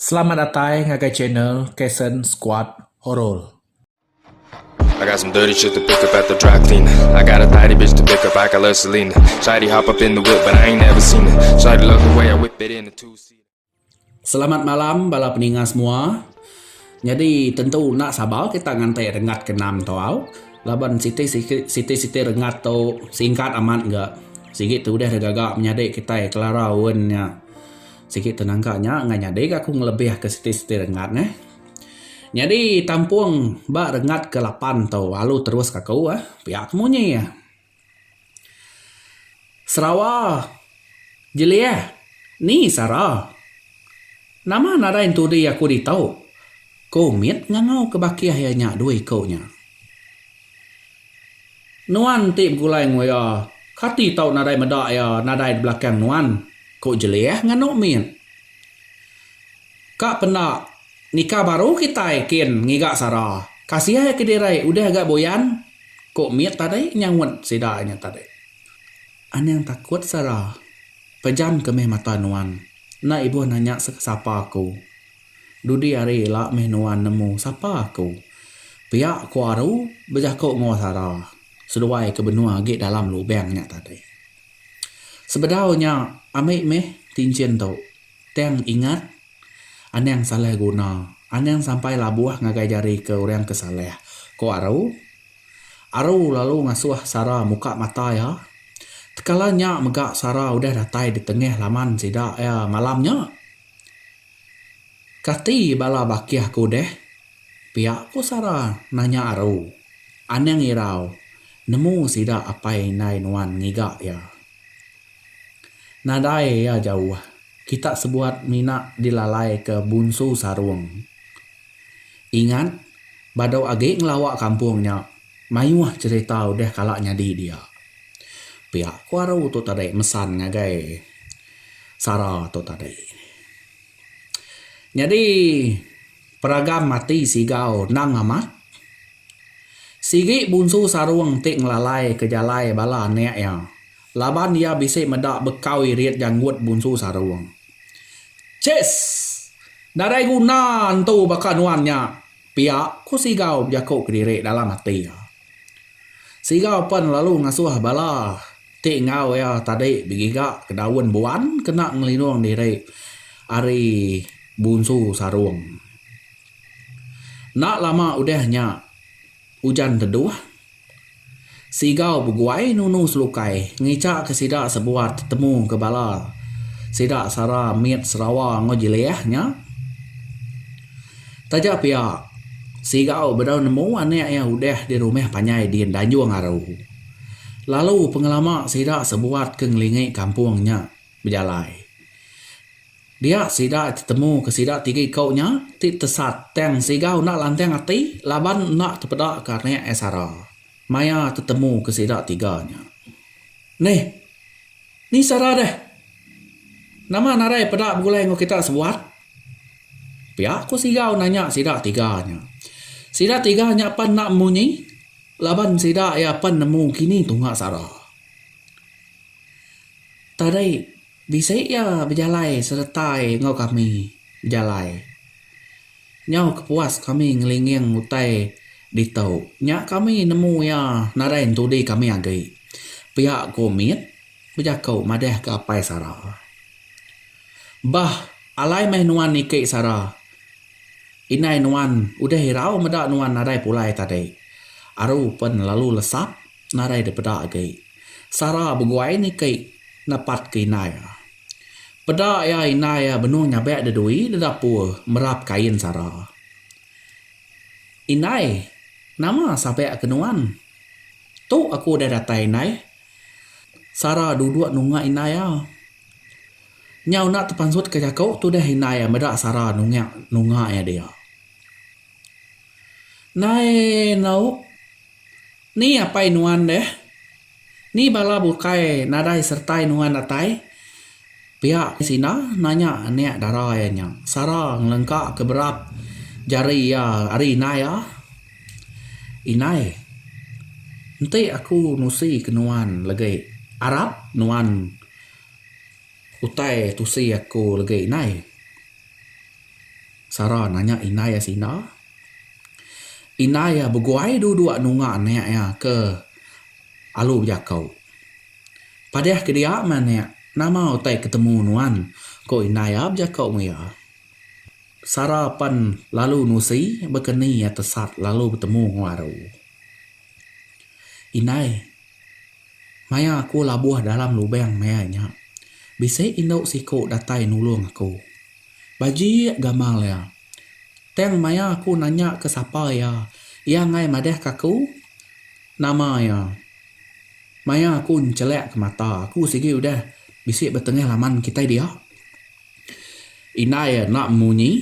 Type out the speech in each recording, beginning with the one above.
Selamat datai ngagai channel Kason Squad Horor. I got some dirty shit to pick up at the dry clean I got a tidy bitch to pick up, I call her Selena Shawty hop up in the whip but I ain't never seen her Shawty love the way I whip it in a two seater Selamat malam bala peninga semua. Nyadi tentu enda sabar kita nganti rengat ke enam tu au. Laban siti siti siti rengat tu singkat amat ga. Sigi tu deh deh gaga menyadi kitai kelara wen nya. Sigi tenangka nya enggah nyadi ga aku ngelebihka siti-siti rengat neh. Nyadi tampung ba rengat ke lapan tu alu terus ka aku eh pia ke munyi eh. Sarawa Jelih ni sara. Nama nadai entudi aku ditu. Ku mit ngangau ke bakih iya nya dua iku nya. Nuan ti begulai nguya, kati tau nadai meda iya nadai di belakang nuan? ku Jelih nganu mit. Ka penda, nika baru kitai kin ngiga sara. Kasiah iya kedirai udah ga buyan, ku mit tadi nyaut sida nya tadi. Anang takut sara, pejamka meh mata nuan, enda ibuh nanya sapa aku. Dudi hari ila meh nuan nemu sapa aku. Pia ku Aru bejako enggau Sara seduai ke benua agi dalam lubang nya tadi. Sebedau nya ambi meh tinchin tu tang ingat anang salah guna anang sampai labuh ngagai jari ke orang ke salah ku Aru. Aru lalu ngasuh Sara muka mata iya. Tekala nya mega Sara udah datai di tengah laman sida iya malam nya. Kati bala bakih aku deh? pia ku Sara nanya aru. Anang irau nemu sida apai indai nuan ngiga iya. Nadai iya jauh, kita sebuat mina dilalaika Bunsu Sarung. Ingat, badu agi ngelawa kampung nya, mayuh cherita udah kala nyadi dia. Pia ku aru tu tadi mesan ngagai. sara tu tadi. Nyadi peragam ati Sigau nang amat sigi Bunsu Sarung ti ngelalai ke jalai bala anek iya laban iya bisi meda bekau irit janggut Bunsu Sarung. Chess! Nadai guna entu baka nuan nya pia, ku Sigau bejaku kediri dalam ati iya. Siga pen lalu ngasuh bala ti enggau iya tadi begiga ke daun buan kena ngelinung diri ari bunsu sarung. Enda lama udah nya ujan teduh. Siga beguai nunu selukai ngichaka sida sebuat tetemu ke bala sida sara mit Sarawa enggau Jilih nya. Taja pia, Sigau bedau nemu anak iya udah dirumah panjai di Danjung Aru. Lalu pengelama sida sebuat ke ngelingi kampung nya bejalai. Dia sida tetemu ke sida tiga iku nya ti tesat tang Sigau enda lantang ati laban enda tepeda ke anak iya sara maya tetemu ke sida tiga nya. Neh, ni sara deh. Nama nadai peda begulai enggau kita sebuat? Pia ku Sigau nanya sida tiga nya. Sida tiga nya pan enda munyi laban sida iya pan nemu kini tunga sara. Tadai bisi iya bejalai seretai enggau kami bejalai. Nyau kepuas kami ngelinging utai ditu nya kami nemu iya nadai entudi kami agi. Pia ku mit bejaku madahka Apai Sara. Bah, alai meh nuan niki sara. Indai nuan udah irau meda nuan nadai pulai tadi. Aru pen lalu lesap nadai dipeda agi. Sara beguai niki nepat ke indai iya. Peda iya indai iya benung nyabek de dui de dapur merap kain sara. Indai, nama sabek ke nuan? Tu aku udah datai indai. Sara duduk nunga indai iya. Nyau enda tepansutka jaku tudah indai iya meda sara nungak nunga iya dia. Nai nau ni apai nuan deh? Ni bala bukai nadai sertai nuan datai? Pia Sina nanya anak dara iya nya. Sara ngelengka ke berap jari iya ari indai iya. Indai, enti aku nusi ke nuan legi arap nuan. Utai tusi aku legi inai. Sara nanya inai iya sida. Inai iya beguai dua-dua nunga anak iya ke alu bejaku. Padeh ke dia meh anak, nama utai ke temu nuan? ku inai iya bejaku meng iya. Sara pan lalu nusi baka ni iya tesat lalu betemu enggau baru. Inai. Maya aku labuh dalam lubang mea nya, bisi indu siku datai nulung aku. Baji gamal iya. Tang maya aku nanya ke sapa iya, iya enggai madahka aku nama iya. Maya aku nchelakka mata, aku sigi udah bisi betengah laman kitai dia. Indai enda munyi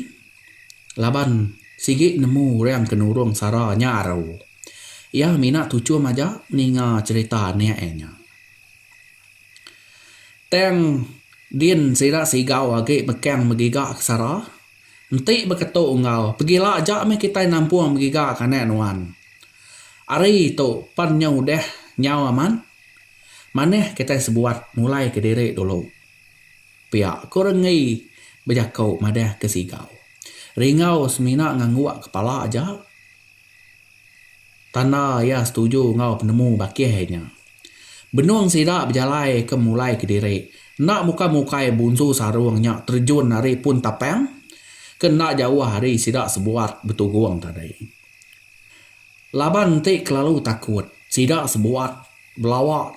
laban sigi nemu orang ke nurung sara nya aru. Iya mina tuchum aja ninga cherita anak iya nya. Tang din sida sigau agi bekang begiga ke sara enti beketu enggau pegila aja meh kitai nampung begiga ke anak nuan. Hari tu pan nya udah nyau amat manah kitai sebuat mulai kediri dulu. pia ko Renggi bejako madah ke Sigau. Ringgau semina ngangguk kepala aja tanda iya setuju enggau penemu bakih nya. Benung sida bejalai ke mulai kediri enda muka mukai Bunsu Sarong nya terjun ari pun tapang ke enda jauh ari sida sebuat betugong tadi. Laban enti kelalu takut sida sebuat belawa.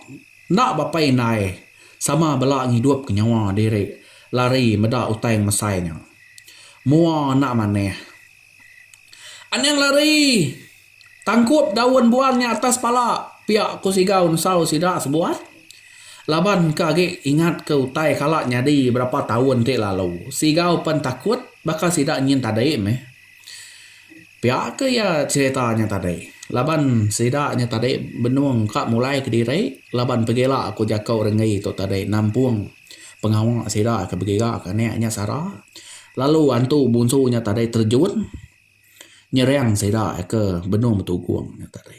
Enda bapa indai sama bela ngidupka nyawa diri lari meda utai ngemesai nya. Mua enda manah. Anang lari! Tangkup daun buan nya atas pala pia ku Sigau nusau sida sebuah. Laban ke agi ingatka utai kala nyadi berapa taun ti lalu, Sigau pen takut baka sida nyin tadi meh. Pia ke iya cerita nya tadi laban sida nya tadi benung ka mulai kediri laban pegila ku jaku renggi tu tadi nampung pengawa sida ke begiga ke anak nya sara lalu antu bunsu nya tadi terjun nyerang sida ke benung betugong nya tadi.